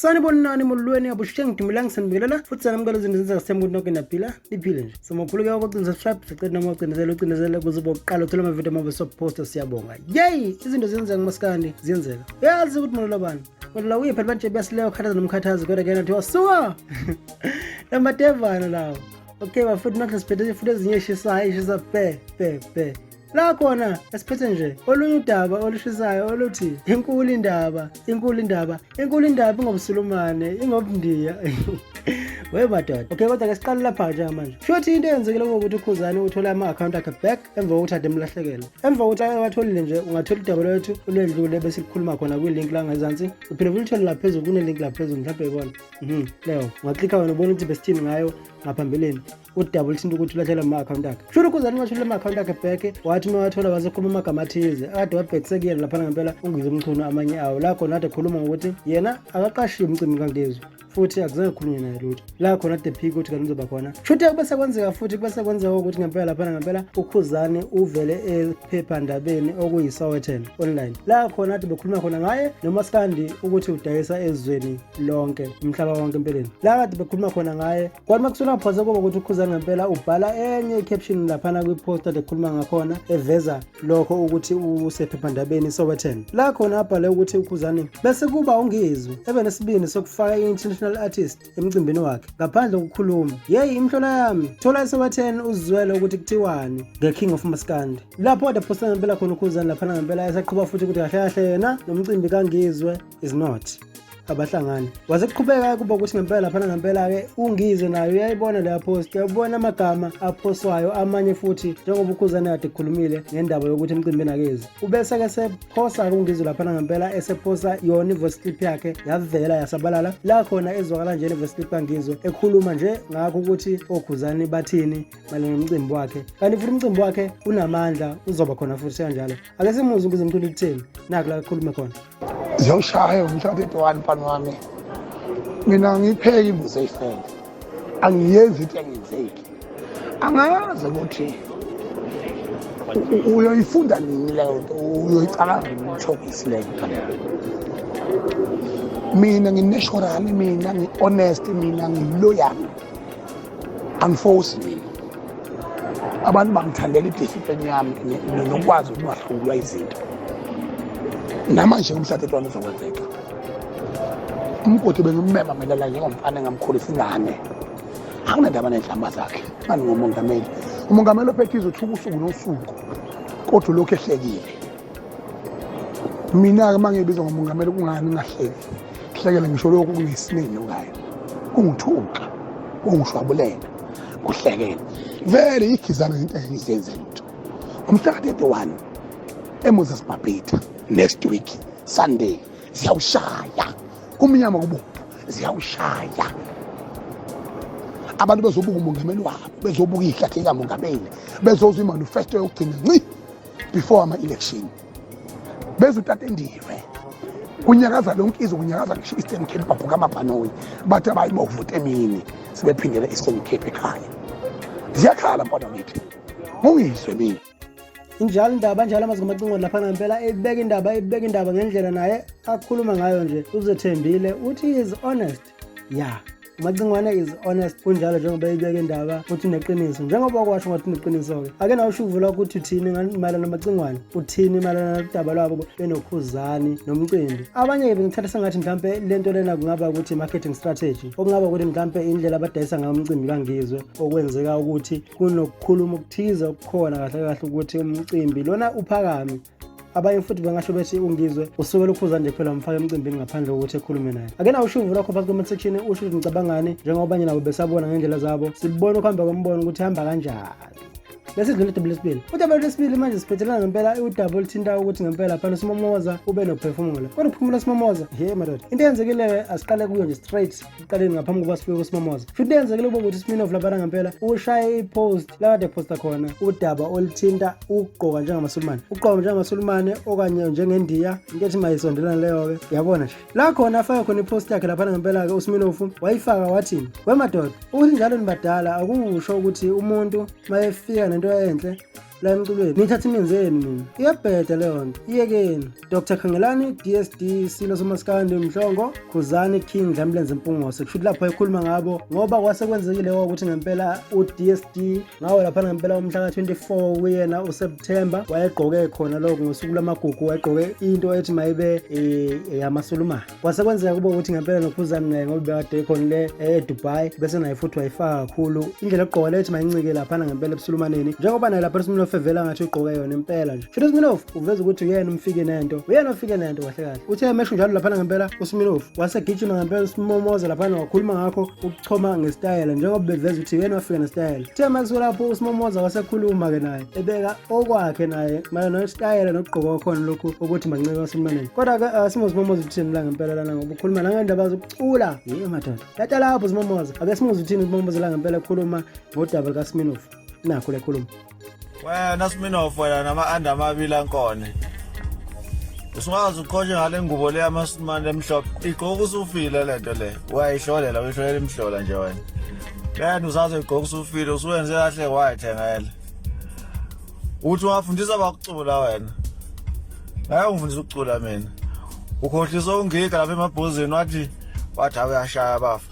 sanibonani molweni abushe ngidumelanga sanibingelela futhi sanamukela izinto zenzeka semkuthi noke naphila niphile nje so makhuleke wakocinza subscribe sicede noma ucindezela ucindezela kuze uba kuqala uthole amavidiyo amabe soposta siyabonga yeyi izinto ziyenzeka masikandi ziyenzeka uyazi ukuthi molelo bani molelo uyiphi libanje buyasileyo khathaza nomkhathazi kodwa ke nathi wasuka lamadevana lawo okay bafuthi nathi siphethe futhi ezinye eshisayo eshisa pe pe pe La khona esiphethe nje olunye udaba olushisayo oluthi inkulu indaba inkulu indaba inkulu indaba ingobsulumane ingobundiya we madoda okay kodwa ke siqale lapha nje manje futhi into eyenzekile ukuthi ukhuzane uthole ama-akhawunti akhe back emva kokuthi ade emlahlekele emva kokuthi awatholile nje ungathola udaba lwethu olwedlule bese likhuluma khona kwilink la ngezansi uphinde futhi uthole laphezulu kunelink laphezulu mhlawumbe ibona mhm leyo ungaklikha wena ubona ukuthi besithini ngayo ngaphambilini udaba olithinta ukuthi ulahlela ama-akhawunti akhe shula ukhuzani ungasho lama-akhawunti akhe bheke wathi uma wathola wasekhuluma amagama athize akade wabhekise kuyena laphana ngempela ungize umchunu amanye awo la khona ade khuluma ngokuthi yena akaqashiwe umcimbi kangezwe futhi akuzange kukhulunywe naye lutho la khona the peak ukuthi kanti uzoba khona shuthi kube sekwenzeka futhi kube sekwenzeka ukuthi ngempela laphana ngempela ukhuzane uvele ephephandabeni okuyi-sowetan online la khona ade bekhuluma khona ngaye nomaskandi ukuthi udayisa ezweni lonke umhlaba wonke empeleni la kade bekhuluma khona ngaye Kwathi makusona phose koba ukuthi ukhuza ngempela ubhala enye i-caption laphana kwi-post ade khuluma ngakhona eveza lokho ukuthi usephephandabeni iSowetan la khona abhale ukuthi ukhuzane bese kuba ungizwe ebe nesibindi sokufaka i-international artist emcimbini wakhe ngaphandle kokukhuluma yeyi imhlola yami thola iSowetan uzizwele ukuthi kuthiwani nge-king of maskandi lapho ade phosta ngempela khona ukhuzane laphana ngempela esaqhuba futhi ukuthi kahle kahle yena nomcimbi kangizwe is not abahlangani waze kuqhubeka kuba ukuthi ngempela laphana ngempela-ke ungize nayo uyayibona leya post uyabona amagama aphoswayo amanye futhi njengoba ukhuzane kade kukhulumile ngendaba yokuthi emcimbini akezi ubese-ke sephosa-ke ungizwe laphana ngempela esephosa yona i-voice clip yakhe yavela yasabalala la khona ezwakala nje le-voice clip kangizwe ekhuluma nje ngakho ukuthi okhuzane bathini malona nomcimbi wakhe kanti futhi umcimbi wakhe unamandla uzoba khona futhi sekanjalo ake simuzwe ukuze mthula ukutheni naku la ekhulume khona ziyawushaya umshado edwani mfana wami mina ngipheke imbuzi eyifele angiyenzi into engenzeki angazi ukuthi uyoyifunda nini leyo nto uyoyicabanga nini umthokisi leyo nto mina ngineshorali mina ngi-honest mina ngiloyali angifosi mina abantu bangithandela idiscipline yami nokwazi ukuthi bahlulwa izinto namanje umhlathetho wami uzokwenzeka umgodi bengimmema mina la njengomfana engamkhulisa ingane anginandaba nenhlamba zakhe ngani ngomongameli umongameli ophethize uthuka usuku nosuku kodwa ulokhu ehlekile mina-ke uma ngibizwa ngomongameli kungani ngahleki hlekele ngisho lokhu kungesinini ngayo kungithuka kungishwabulela kuhlekela vele ikhizana into engizenze lutho umhlaka 31 emoses babhitha next week sunday ziyawushaya kumnyama kubomvu ziyawushaya abantu bezobuka umongameli wabo bezobuka ihlathi likamongameli bezozwa imanifesto yokugcina nci before ama-election bezwe utatendiwe kunyakaza lonke izwe kunyakaza ngisho i-eastern cape babhuka amabhanoyi bathi abayi bovota emini sebephindela i-eastern cape ekhaya ziyakhala mfana kithi mungizwe mina injalo indaba njalo amazwi amacingweni lapha ngempela ebeka indaba ebeka indaba ngendlela naye akhuluma ngayo nje uzethembile uthi is honest ya umacingwana is honest kunjalo njengoba eyibeka indaba ukuthi uneqiniso njengoba kwasho ngathi uneqiniso-ke ake nawe usho uvula ukuthi uthini mayelana namacingwana uthini mayelana nodaba lwabo benokhuzani nomcimbi abanye-ke bengithatha sengathi mhlawumpe le nto lena kungaba ukuthi i-marketing strategy okungaba ukuthi mhlawumpe indlela abadayisa ngayo umcimbi kangizwe okwenzeka ukuthi kunokukhuluma okuthize okukhona kahle kahle ukuthi umcimbi lona uphakame abanye futhi bengasho bethi ungizwe usuke lukhuza nje kuphela umfake emcimbini ngaphandle kokuthi ekhulume naye ake nawo ushuvu lwakho phasi comment section usho ukuthi ngicabangani njengoba abanye nabo besabona ngendlela zabo sibone ukuhamba kwembono ukuthi hamba kanjani lesidlula udaba lesibili udaba lesibili manje siphethelana ngempela udaba oluthinta ukuthi ngempela phela usimomoza ube nokuphefumula kodwa ukuphumula usimomoza he madoda into eyenzekileyo asiqale kuyo nje straight ekuqaleni ngaphambi kokuba sifike kusimamoza futhi kuyenzekile ukuba ukuthi isminof labana ngempela ushaye ipost lakade posta khona udaba oluthinta ukugqoka njengamasulumane ukugqoka njengamasulumane okanye njengendiya into ethi mayisondelane leyo-ke yabona nje la khona afake khona ipost yakhe laphana ngempela-ke usminofu wayifaka wathini wemadoda ukuthi njalo nibadala akusho ukuthi umuntu mayefika nento enhle la emculweni nithatha ininzi yenu nina iyabheda leyo nto iyekeni dr khangelani dsd silo somasikandi mhlongo khuzani king dlambulenze mpungose kushuthi lapho ekhuluma ngabo ngoba kwase kwenzekile ukuthi ngempela udsd ngawo lapha ngempela umhla ka-24 kuyena useptemba wayegqoke khona lokho ngosuku lwamagugu wayegqoke into ethi mayibe um eh, yamasulumane kwase kwenzeka kube ukuthi ngempela nokhuzani naye ngoba bekade ekhona le eh, edubai bese naye futhi wayifaka kakhulu indlela yokugqoka lethi mayincike laphana ngempela ebusulumaneni njengoba naye lapha usminof evela ngathi ugqoke yona impela nje futhi usminof uveza ukuthi uyena umfike nento uyena ofike nento kahle kahle uthe emesho njalo laphana ngempela usminof wasegijima ngempela usimomoza laphana wakhuluma ngakho choma ngesitayela njengoba beveza ukuthi yena wafika nesitayela kuthe makusuke lapho usimomoza wasekhuluma-ke naye ebeka okwakhe naye mayelana nesitayela nokugqoka kwakhona lokhu ukuthi mancike wasemlwaneni kodwa-ke uh, simo simomoza uthini mla ngempela lana ngoba ukhuluma nangendaba zokucula yiyo madoda tata lapho simomoza ake simuze uthini umomoza la ngempela ekhuluma ngodaba likasiminofu nakho lekhuluma wena sminof wena nama-anda amabili ankone usungazi uqhoshe ngale ngubo le yamasimane emhlophe igqoka usufile le nto le uyayihlolela uyihlolela imhlola nje wena le nto usaze igqoka usufile usuwenze kahle wayithengela uthi ungafundisa bakucula wena ngaye ungifundisa ukucula mina ukhohlisa ungiga lapha emabhozini wathi wathi awuyashaya bafa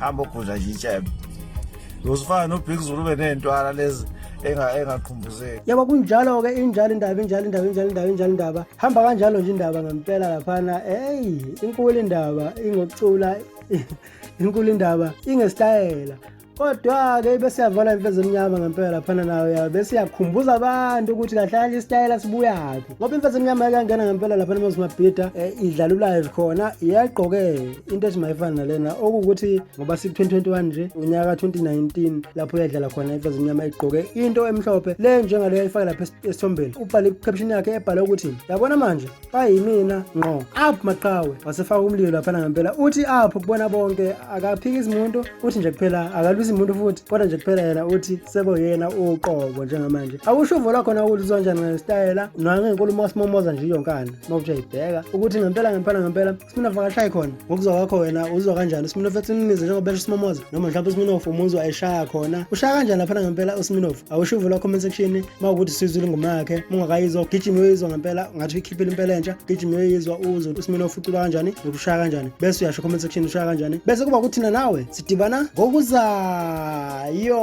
hamba ogudla nje itshebe uzifana nobig zulu ube ney'ntwala lezi engaqhumbuzeki yabo kunjalo-ke injalo indaba injalo indaba injalo indaba injalo indaba hamba kanjalo nje indaba ngempela laphana eyi inkulu indaba ingokucula inkulu indaba ingesitayela kodwa-ke besiyavala imfezemnyama ngempela laphana nayo ya besiyakhumbuza abantu ukuthi kahlala isitayela sibuyaphi ngoba imfazi emnyama yakangena ngempela lapha nemozimabhida um eh, idlalulayo khona yagqoke into ethi mayifana nalena okuwukuthi ngoba siku-2021 nje unyaka ka-2019 lapho yadlala khona imfazi emnyama igqoke into emhlophe le njengale yayifake lapha esithombeni ubhale caption yakhe ebhale ukuthi yabona manje bayimina ngqo up maqhawe wasefaka umlilo laphana ngempela uthi up kubona bonke akaphiki izimuntu uthi nje kuphela akalwisi muntu futhi kodwa nje kuphela yena uthi sekoyena uqobo njengamanje awusho uvo lwakhona ukuthi uzonjani ngesitayela nangenkulumo wasimomoza nje iyonkana uma uthi uyayibheka ukuthi ngempela ngempela ngempela simina vakashayi khona ngokuzwa kwakho wena uzwa kanjani usimina fethi umnize njengoba esho usimomoza noma mhlawumbe usiminofu umuzwa eshaya khona ushaya kanjani laphana ngempela usiminofu awusho uvo lwakho comment section uma ukuthi sizwile ingoma yakhe ungakayizwa ugijima uyoyizwa ngempela ngathi uyikhiphile impela entsha ugijima uyoyizwa uzwe usimina ufuculwa kanjani nokushaya kanjani bese uyasho comment section ushaya kanjani bese kuba kuthina nawe sidibana ngokuzayo